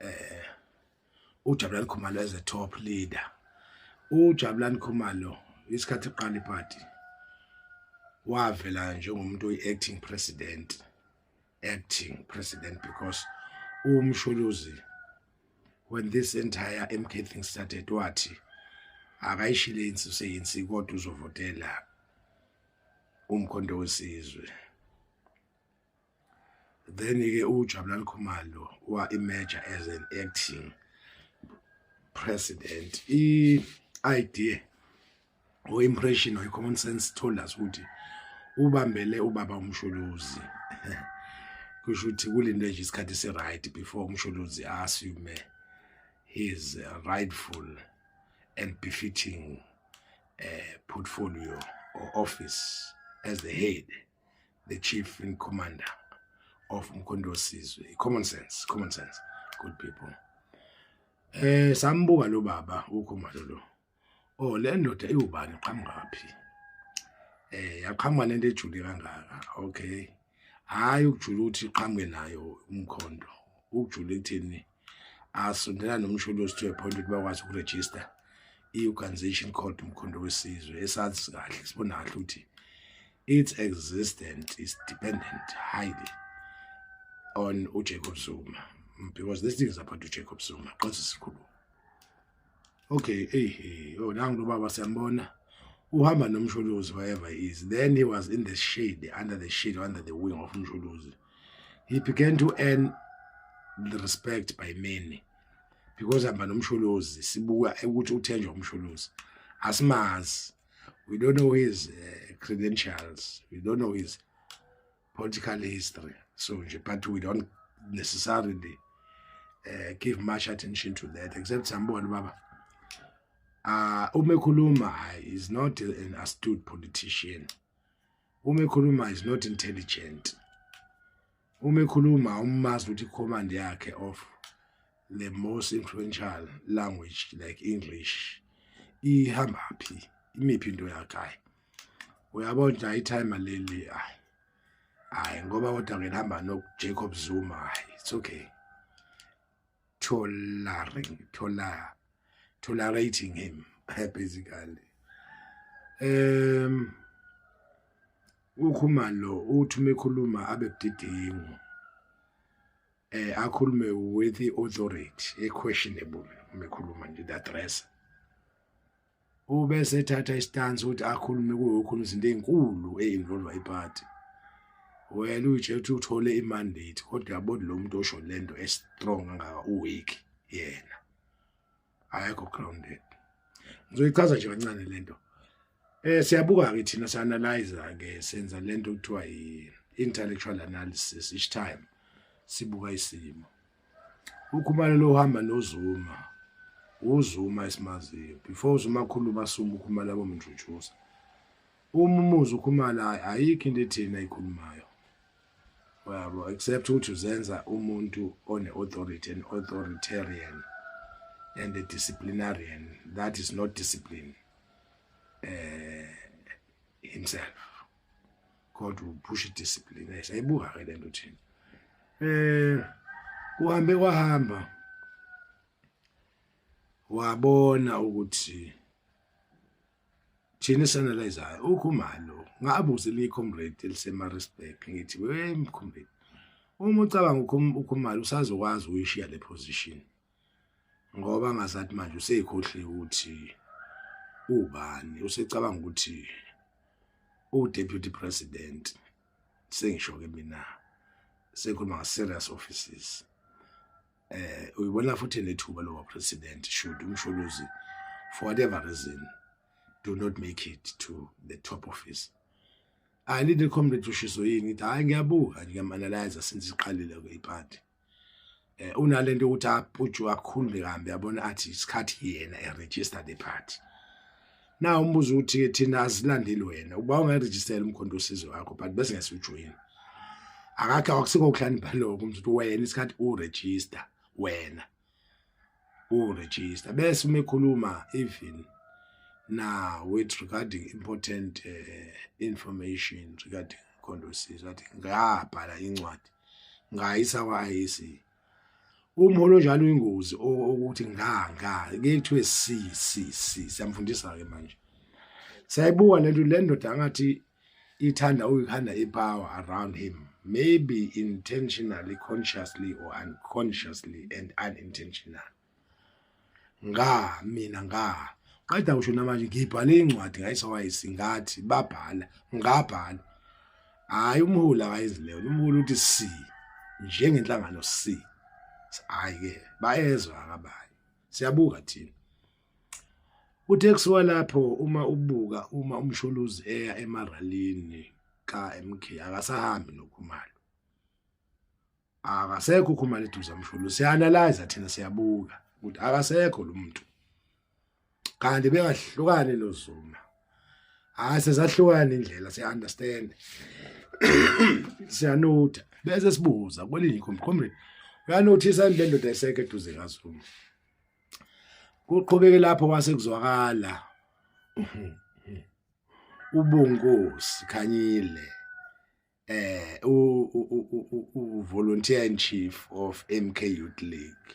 eh uJabulani Khumalo as a top leader uJabulani Khumalo isikhathi eqala iparty wavela njengomuntu oyi-acting president acting president because umshuluzi when this entire MK thing started wathi akayishile insi useyinsi kodwa uzovotela umkhonto wesizwe then ke uJabulani Khumalo wa emerge as an acting president i idea or impression or common sense told us ukuthi ubambele ubaba umshuluzi kusho ukuthi kulindwe nje isikhathi si right before umshuluzi assume his rightful and befitting uh, portfolio or office as the head the chief and commander of umkhondo wesizwe common sense common sense good people eh sambuka lo baba ukhumalo lo oh le ndoda iwubani qhamukaphi eh yaqhamuka nento ejule kangaka okay hayi ukujula ukuthi qhamuke nayo umkhondo ukujula ekuthini asondela nomsholozi to a point ukuthi bakwazi ukuregister i-organization called umkhondo wesizwe esazi kahle sibona kahle ukuthi its existence is dependent highly on ujacob zuma because this thing is about ujacob zuma qose sikhuluma okay hey hey oh nangu lobaba siyambona uhamba nomsholozi wherever he is then he was in the shade under the shade under the wing of umsholozi he began to earn the respect by many because hamba nomsholozi sibuka ukuthi uthenjwa umsholozi asimazi we don't know his uh, credentials we don't know his political history so nje but we don't necessarily uh, give much attention to that except sambona baba uh, uma ekhuluma is not an astute politician uma ekhuluma is not intelligent uma ekhuluma umazi ukuthi command yakhe of the most influential language like english ihamba phi imiphi into yakhe uyabo nje itime leli hayi hayi ngoba kodwa ngihamba no Jacob Zuma hayi it's okay tolerating tola tolerating him basically um ukhuma lo uthi uma ekhuluma abe budedengu eh akhulume with the authority e questionable uma ekhuluma nje the address ube sethatha istansi ukuthi akhulume kuyokhuluma izinto ezinkulu ezinvolva iparty wena uyijethi ukuthi uthole imandate kodwa yabona lo muntu osho lento estrong angaka uweak yena ayekho grounded ngizoyichaza nje kancane lento eh siyabuka ke thina sianalyze ke senza lento kuthiwa yi intellectual analysis each time sibuka isimo ukhumalo lohamba nozuma uzuma esimaziyo before uzuma khulu basuma ukhumalo abomnjujuza uma umuzi ukhumala ayikho into ethini ayikhulumayo yabo except ukuthi uzenza umuntu one authority and authoritarian and a disciplinarian that is not discipline eh himself kodwa uphusha idiscipline eh, sayibuka ke lento thina eh uhambe kwahamba wabona ukuthi thina sanalizayo ukhumalo ngabuze li comrade elisemaritzburg ngithi we comrade uma ucabanga ukhumalo usazokwazi uyishiya le position ngoba ngazathi manje useyikhohliwe ukuthi ubani usecabanga ukuthi udeputy president sengisho ke mina sekhuluma nge-serious offices eh uyibona futhi nethuba lowa president should umsholozi for whatever reason do not make it to the top office ayilinde comrade ushiso yini ithi hayi ngiyabuka nje ngiyamanalyza since iqalile ke iparty eh unalento ukuthi apuju akhulule kambe yabona athi isikhathi yena e register the party na umbuzo uthi thina asilandeli wena uba ungaregister umkhonto usizo wakho but bese ngesijoyina akakhe akusikho ukuhlani bhaloko umntu wena isikhathi u register wena uregister bese uma ekhuluma even na with regarding important uh, information regarding condosis wathi ngabhala incwadi ngayisa kwa-IEC umholo njalo ingozi ukuthi nga nga kuthiwe si si si siyamfundisa-ke manje sayibuka le nto le ndoda angathi ithanda ukukhanda ipower around him maybe intentionally consciously or unconsciously and unintentional nga mina nga qeda usho namanje ngibhale incwadi ngayisawaisi ngathi babhala ngabhala hayi umholi akayizileyo umholi uthi si njengenhlangano si hayi ke bayezwa akabani siyabuka thina Uthe kusuka lapho uma ubuka uma uMsholozi eya emaralini kaMK akasahambi noKhumalo. Akasekho uKhumalo eduze kaMsholozi. Sianalyze thina siyabuka ukuthi akasekho lo muntu. Kanti bengahlukane noZuma. Hayi sezahlukana indlela siya understand. Siyanotha bese sibuza kwelinye ikhombe. Comrade, uyanothisa indlela ndoda eseke eduze kaZuma. kuqhubeke lapho kwase kuzwakala ubongosi khanyile eh u volunteer in chief of MK Youth League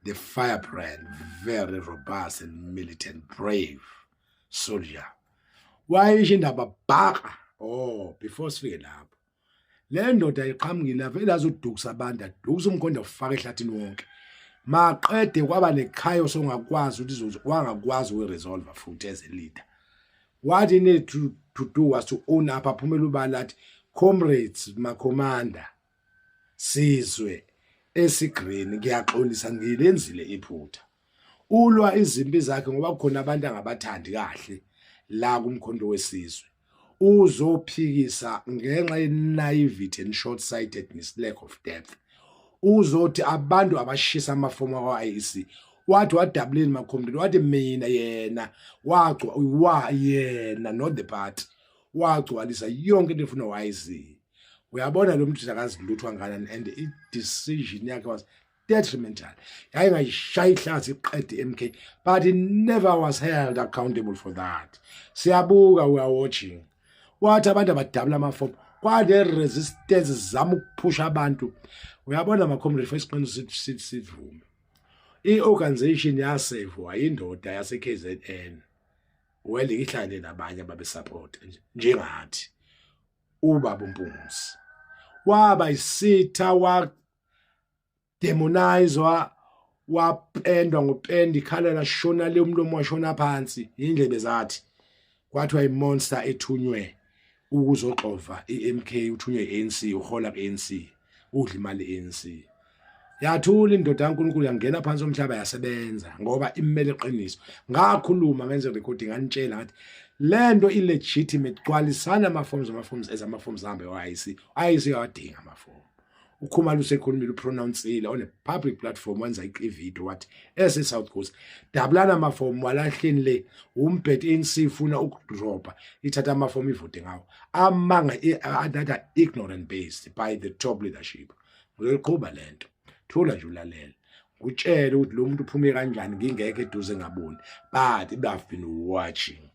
the firebrand very robust and militant brave soldier wayisho indaba bhaka oh before sifike lapho le ndoda iqhamukile avele azodukisa abantu adukisa umkhonda ufaka ehlathini wonke maqede kwaba nechayo songakwazi ukuthi wangakwazi ukuresolve futhi as a leader what he need to, to do was to own up aphumela ubala athi comrades makhomanda sizwe esigreen ngiyaxolisa ngilenzile iphutha ulwa izimpi zakhe ngoba kukhona abantu angabathandi kahle la kumkhondo wesizwe uzophikisa ngenxa yenaivity and short sightedness lack of depth uzothi abantu abashisa amafomu akwa-IEC wathi wadabuleni makhombeni wathi mina yena wagcwa wa yena not the party wagcwalisa yonke into efuna wayiziyo uyabona lo mntu akazi lutho anganani and i-decision yakhe was detrimental yaye ngayishaya ihlazi iqede MK but he never was held accountable for that siyabuka we are watching wathi abantu abadabula amafomu kwale resistance zama ukuphusha abantu uyabona makhomre first plan sithi sivume i-organization yasevwa indoda yase-kzn well ihlangane nabanye ababesapota njengathi ubaba umpungisi waba isitha demonizwa wapendwa ngopenda ikhala lashona le umlomo washona phansi indlebe zathi kwathiwa imonster ethunywe ukuzoxova iMK uthunywe ANC uhola ANC udla imali ANC yathula indoda kaNkulunkulu yangena phansi omhlaba yasebenza ngoba imele iqiniso ngakhuluma ngenze recording anitshela ngathi lento i legitimate gcwalisana ama forms ama forms ezama forms hambe wayithi ayithi yawadinga ama forms ukhumalo usekhulumile upronouncile on a public platform wenza ivideo wathi ese South Coast dabulana amafomu walahleni le umbhet ANC ifuna ukudropa ithatha amafomu ivote ngawo amanga that are ignorant based by the top leadership ngizoyiqhuba lento thula nje ulalela ngutshele ukuthi lo muntu uphume kanjani ngingeke eduze ngaboni but i've been watching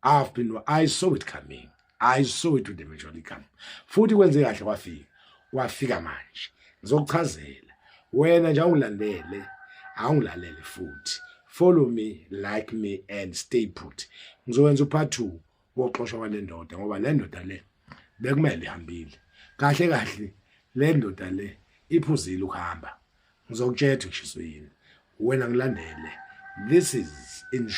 i've been i saw it coming i saw it with the majority come futhi kwenze kahle kwafika kwafika manje ngizokuchazela wena nje awungilandele awungilalele futhi follow me like me and stay put ngizokwenza upart 2 woxoshwa kwalendoda ngoba le ndoda le bekumele ihambile kahle kahle le ndoda le iphuzile ukuhamba ngizokutshela ukuthi ngishiso yini wena ngilandele this is in